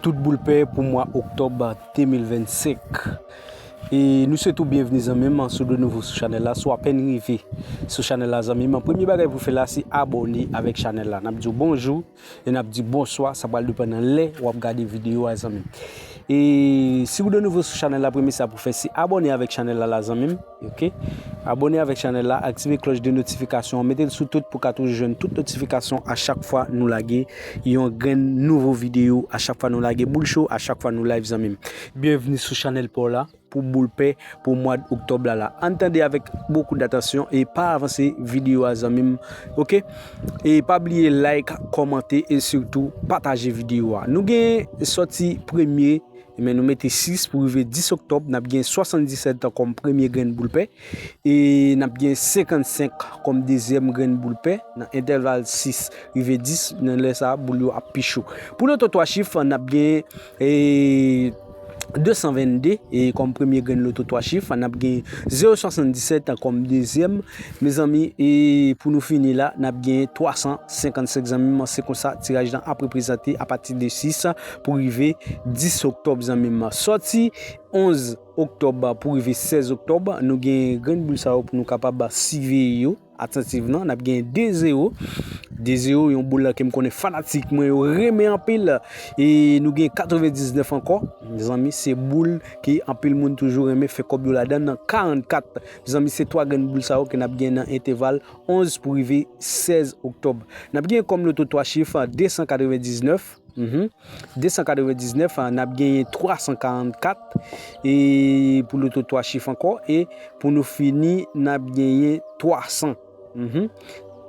Tout boul pe pou mwa oktòb 2025 E nou swete w byenvni zanmim si w de nouvo sou chanèl la si w apèn rive sou chanèl la zanmim premye bagay pou w fè la se abòne avèk chanèl la nap di w bonjou e nap di w bonswa sa pral depann nan lè wap gade videyo a zanmim E si w de nouvo sou chanèl la premye sa pou w fè se abòne avèk chanèl la zanmim. Ok Abone avèk chanèl la aktive klòch de notifikasyon an metel sou tout pou ka toujou jwenn tout notifikasyon a chak fwa nou lage yon grenn nouvo video a chak fwa nou lage boul cho a chak fwa nou live zanmim byenvni sou chanèl paw la pou boul pè pou mwad oktòb la la ann tande avèk bokou datansyon e pa avanse video a zanmim ok e pa bliye like kòmante e sitou pataje video a nou gen sòti premye Men nou mete 6 pou rive 10 oktòb, n ap gen 77 an kòm premye grenn boul pè e n ap gen 55 kòm dezyèm grenn boul pè nan entèval 6 rive 10, nan lè sa a boul yo ap pi cho. Pou loto 3 chif, n ap gen 222 kòm premye grenn loto 3 chif, n ap gen 077 kòm dezyèm, mezanmi e pou nou fini la n ap gen 355 zanmi m, se konsa tiraj lan ap reprezante apati de 6. pou rive 10 oktòb zanmim. Sòti 11 oktòb pou rive 16 oktòb nou gen grenn boul sa yo pou nou kapab siveye yo atantivman. Nap gen 2 zero, 2 zero yon boul ke m konnen fanatik mwen yo renmen anpil. E nou gen 99 ankò zanmi se boul ke anpil moun toujou renmen fè kòb yo ladan nan 44. Zanmi se 3 grenn boul sa yo ke nap gen nan enteval 11 pou rive 16 oktòb. Nap gen kòm loto 3 chif 299. 299 n ap genyen 344 e pou loto 3 chif ankò e pou nou fini n ap genyen 300 n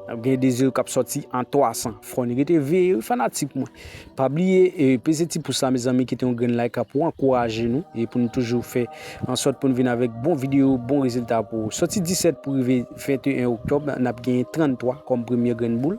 ap genyen 2 zewo k ap sòti an 300 fò n rete veye wi fanatik mwen pa bliye peze ti pous la mezanmi kite yon grenn layk pou ankouraje nou e pou nou toujou fè ansòt pou nou vin avèk bon videyo bon rezilta pou ou sòti 17 pou rive 21 oktòb n ap genyen 33 kòm premye grenn boul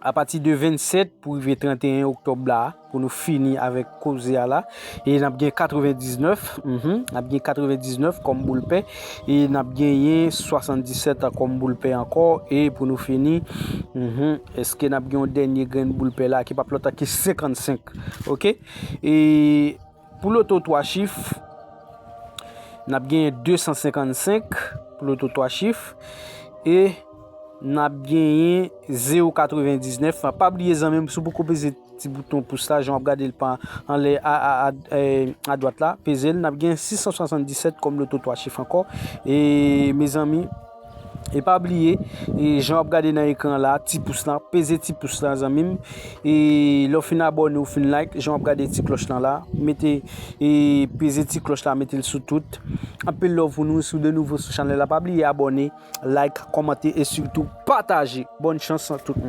Apati de 27 pou rive 31 oktòb la a, pou nou fini avèk koze a la, e n ap gen 99, mph, n ap gen 99 kòm boul pè, e n ap genyen 77 kòm boul pè ankò, e pou nou fini, mph, èske n ap gen yon dènye grenn boul pè la a ki p ap lòt ke 55? Ok. E. Pou loto 3 chif, n ap genyen 255 pou loto 3 chif e n ap genyen 0 99. Pa bliye zanmi m, si w poko peze ti bouton pous la, jan w ap gade l pa anlè a dwat la, peze l. N ap genyen 677 kòm loto 3 chif ankò. E mezanmi. E pa bliye e jan wap gade nan ekran la ti pous la peze ti pous la zanmim e lè w fin abòne ou fin like jan wap gade ti klòch lan la mete e peze ti klòch la metel sou tout anpil love pou nou si w de nouvo sou chanèl la pa bliye abòne like kòmante e sitou pataje bòn chans a tout moun.